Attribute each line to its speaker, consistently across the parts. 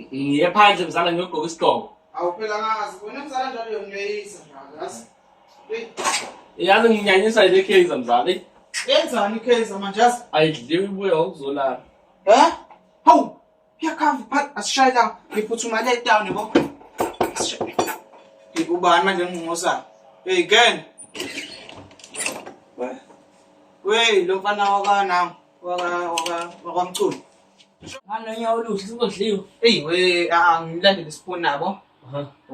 Speaker 1: ngiye phandle mzala ngiyogqoka isigqoko awu phela
Speaker 2: ngazi
Speaker 1: wena mzala njalo uyongileyisa mzala yazi Hey, yazi nginyanyisa ile case mzala eyi, yenzani ikheza
Speaker 2: manje yazi ayidliwe ibuya
Speaker 1: ngokuzolala Eh?
Speaker 2: Hawu, kuyakhava phat asishaye la ngiphuthuma le town yabo. Asishaye. Ngikubani manje ngqonqosa. Hey girl. Wey, lo mfana wakana. wakwamculo
Speaker 1: nganonye oluhle sizodliwa eyi we
Speaker 2: angilandele isipho nabo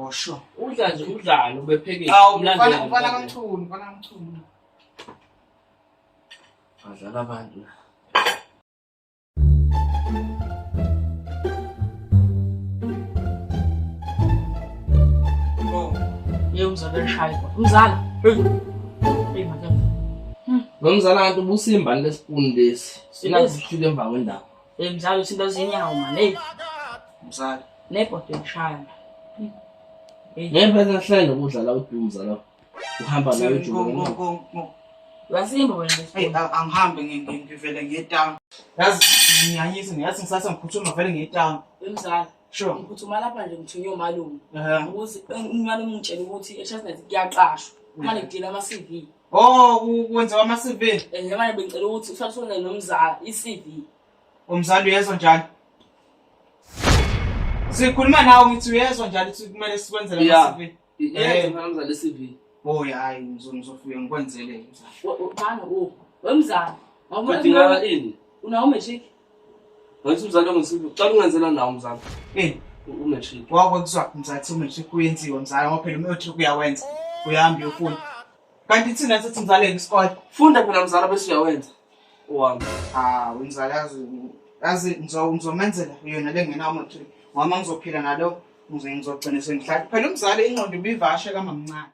Speaker 2: osho udla nje udlalo
Speaker 1: ubephekile
Speaker 2: umfana
Speaker 1: kamchunu
Speaker 2: mfana kamchunu
Speaker 3: badlala abantu la oh, ye umzala eshaywa umzala Nomzala
Speaker 1: kanti ubusimbani lesipuni lesi. Sina kushile emva kwendaba. Emzala usinto
Speaker 3: zinyawo manje. Hey. Mzala.
Speaker 2: Nebhodo
Speaker 3: yokushayana. Ngempela
Speaker 1: ngihlale nokudla la uDumza la. Uhamba nayo uJumo. Wasimba
Speaker 3: wena. Hey, angihambe
Speaker 2: ngivele ngiye town. Yazi ngiyanyisa ngiyathi ngisase ngiphuthuma vele ngiye town. Emzala. Sure.
Speaker 3: Ngiphuthume
Speaker 2: lapha nje ngithunywe
Speaker 3: umalume. Ehhe. Ukuthi eh, umalume ungitshela ukuthi eChestnut kuyaqashwa. Manje ngidila ama-CV. Oh, ku-
Speaker 2: kwenziwa ama-CV. Eh, manje bengicela ukuthi
Speaker 3: usalusone nomzala i-CV. Umzali
Speaker 2: uyezwa njalo. Sikhuluma nawe ngithi uyezwa njalo ukuthi kumele sikwenzele Yeah. ama-CV. Ngeke mfana mzali
Speaker 1: CV. Oh hayi ngizofike ngikwenzele
Speaker 2: mzali. Bana u oh, wemzali. Ngidingala
Speaker 1: ini? Unawo matric?
Speaker 3: Ngathi
Speaker 1: umzali ongisibi. Uqala ungenzela nawo mzali. Eh, umatric. Wakho kuzwa
Speaker 2: mzali umatric uyenziwa mzali ngoba phela umatric uyawenza. Uyahambi uyofunda. Kanti thina sithi mzaleke isikole. Funda phela mzala bese
Speaker 1: uyawenza. Uhambe. Ah, umzala
Speaker 2: yazi yazi ngizomenzela yona lengenawo matric. Mama ngizophila nalo ngize ngizogcina sengihlala. Phela umzali ingqondo ibivashe kamamncane.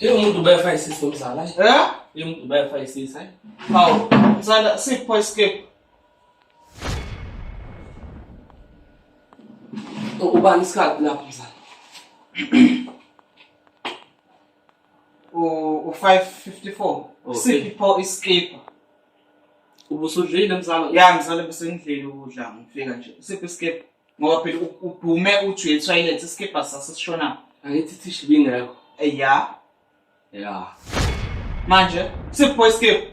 Speaker 1: Yebo umuntu ubefa isisi umzala. Eh? Yebo umuntu ubefa isisi. Hawu,
Speaker 2: msala sipho escape.
Speaker 1: Ubani isikhathi lapho mzala? u-554
Speaker 2: sipho iskipha
Speaker 1: ubusudlile mzala ya mzala besengidlile
Speaker 2: ukudla ngifika nje sipho iskipha ngoba phela udume uthi uyethoyilethi isikibha sasesishona angithi thishi
Speaker 1: bingekho eya
Speaker 2: ya manje sipho isikibha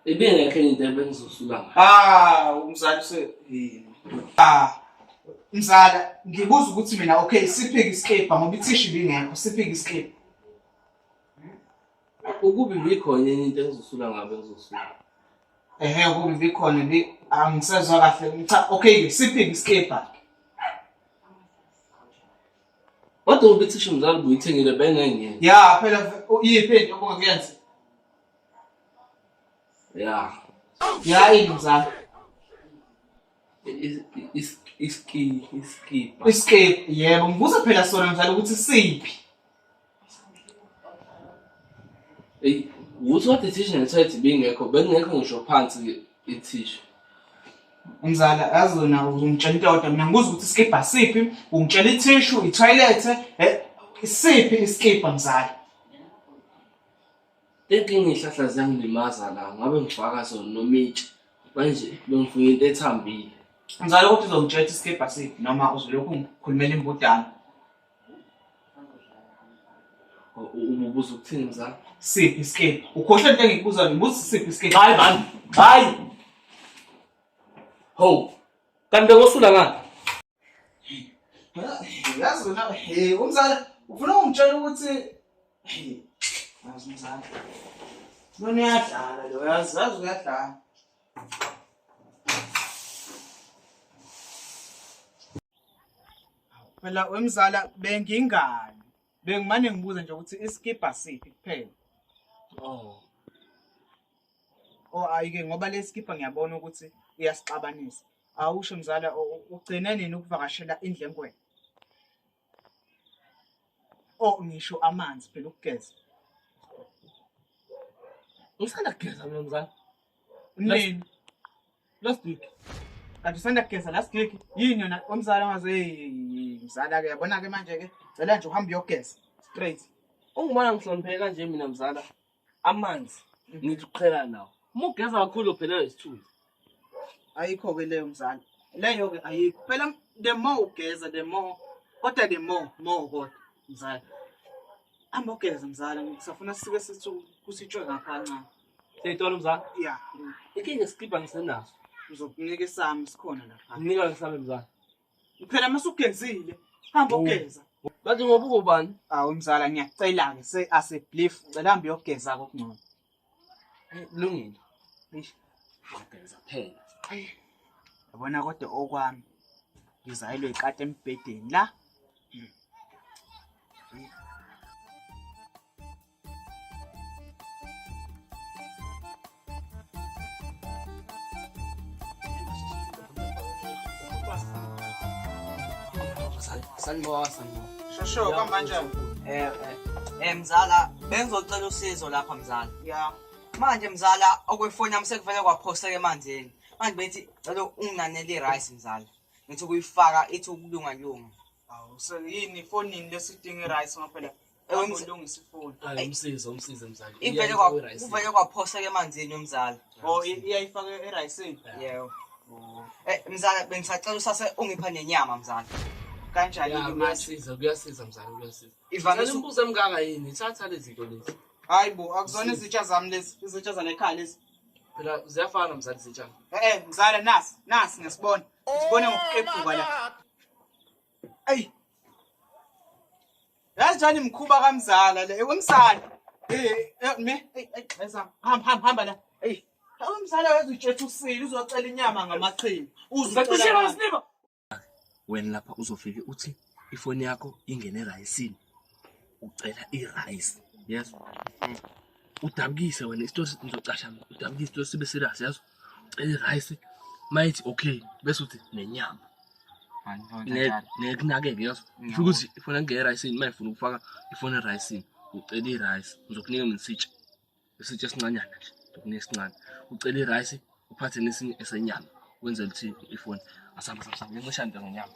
Speaker 2: ibingekho
Speaker 1: enye into ebengizosulanga ah umzali
Speaker 2: se ah mzala ngibuza ukuthi mina okay siphike isikibha ngoba ithishi bingekho siphike isikibha
Speaker 1: Ukubi bikho enye into engizosula ngabe ngizosula. Ehe
Speaker 2: ukubi bikho le angisezwa kahle. Cha okay siphi iskipha.
Speaker 1: Kodwa ubithi sho mzali buyithengile bengenge. Ya phela
Speaker 2: iyiphi into obungakuyenza? Ya. Ya yini mzali? iskip yebo ngibuza phela sona mdlalo ukuthi siphi
Speaker 1: eyi ukuthi what ithisha ngithethe bingekho bengekho ngisho phansi ithisha
Speaker 2: umzala yazi wena ungitshela into yodwa mina ngibuza ukuthi iskibha siphi ungitshela ithishu ithoyilethe eh, siphi iskibha mzala
Speaker 1: Inkinga iy'hlahla ziyangilimaza la ngabe ngifaka zona nomitsha manje bengifuna into ethambile. Ngizale ukuthi
Speaker 2: uzongitshela ukuthi isikebha siphi noma uzolokhu ngikhulumela imbudane.
Speaker 1: Ububuza ukuthini mzala? Siphi isikebha?
Speaker 2: Ukhohlwe into engikubuzayo ngibuza siphi isikebha? Hayi man, hayi.
Speaker 1: Ho. Kanti bekosula ngani?
Speaker 2: Yazi wena hey umzala ufuna ungitshela ukuthi hey yazi umzala. Lona uyadlala lo yazi yazi uyadlala. Phela wemzala bengingani. Bengimane ngibuza nje ukuthi iskibha siphi kuphela. Oh. Oh ayike ngoba leskibha ngiyabona ukuthi uyasixabanisa. awusho mzala ugcine nini ukuvakashela indlengwena o oh, ngisho amanzi phela ukugeza
Speaker 1: usanda kugeza mina mzala nini last week kanti usanda
Speaker 2: kugeza last week yini yona omzala ngaze mzala ke yabona ke manje ke cela nje uhambe uyogeza straight ungumana
Speaker 1: ngihlonipheke kanje mina mzala amanzi ngithi uqhela nawo uma ugeza kakhulu uphelelwa isithunzi
Speaker 2: ayikho-ke leyo mzala leyo-ke ayikho phela the more ugeza the more kodwa the more more kodwa mzala hamba ugeza mzala ngisafuna sike sithi kusitshwe ngapha kancane seyitolo mzala
Speaker 1: ya
Speaker 2: ikinga isikibha
Speaker 1: ngisenaso ngizokunika
Speaker 2: isami sikhona lapha nginika isami mzala
Speaker 1: Phela
Speaker 2: masugezile, hamba oh. ugeza. Bathi ngoba ukubani?
Speaker 1: Awu mzala
Speaker 2: ngiyacela-ke se asebelief cela hambe uyogeza kokungcono. Kulungile.
Speaker 1: Eish. Ngiyageza phela.
Speaker 2: Yabona kodwa okwami ngizayelwe ikati embhedeni la.
Speaker 1: Sanibona, sanibona. Shosho,
Speaker 2: kuhamba kanjani? Eh, eh. Eh,
Speaker 4: mzala, bengizocela usizo lapha mzala. Ya. Manje
Speaker 2: mzala,
Speaker 4: okwefoni yami sekuvele kwaphoseka emanzini. Manje bethi cela unginanele i-rice mzala. Ngithi ukuyifaka ithi ukulunga lunga. Awu, so
Speaker 2: yini ifonini lesidinga i-rice ngoba phela Awulungisa ifoni. Hayi umsizi umsizi
Speaker 1: mzali. Ivele kwa uvele
Speaker 4: kwaphoseka emanzini yomzali. Oh iyayifaka
Speaker 2: erayisini.
Speaker 4: Yebo. Oh. Eh mzali bengisacela usase ungipha nenyama mzali. Kanjani
Speaker 2: ke kuyasiza kuyasiza mzali
Speaker 1: kuyasiza. Ivale umbuzo emkaka
Speaker 4: yini?
Speaker 1: Thatha lezi zinto lezi. Hayi bo akuzona
Speaker 2: izitsha zami lezi izitsha zanekhaya lezi. Phela ziyafana
Speaker 1: mzali izitsha. Eh, eh mzali nasi
Speaker 2: nasi ngesibona. Sibone ngokuqephuka la. Ayi yazi njani mkhuba kamzala le wemsana eh, eh me ayixheza eh, hamba hamba hamba la hey awumzala wethu utshetha usile
Speaker 1: uzocela inyama ngamaqhinga uzocela sinima wena lapha uzofike uthi ifoni yakho ingene erayisini ucela irice yes udabukise wena isitosi ngizocasha udabukise isitosi sibe serious yazo irayisi mayithi okay bese uthi nenyama nekunakeke yazo sho ukuthi ifuna ngeke erayisini uma ifuna ukufaka ifuna erayisini ucela irayisi ngizokunika mina isitsha isitsha esincanyana nje ngizokunika esincane ucela irayisi uphathe nesinye esenyama wenzela ukuthi ifone asamba samba ngencisha nto ngenyama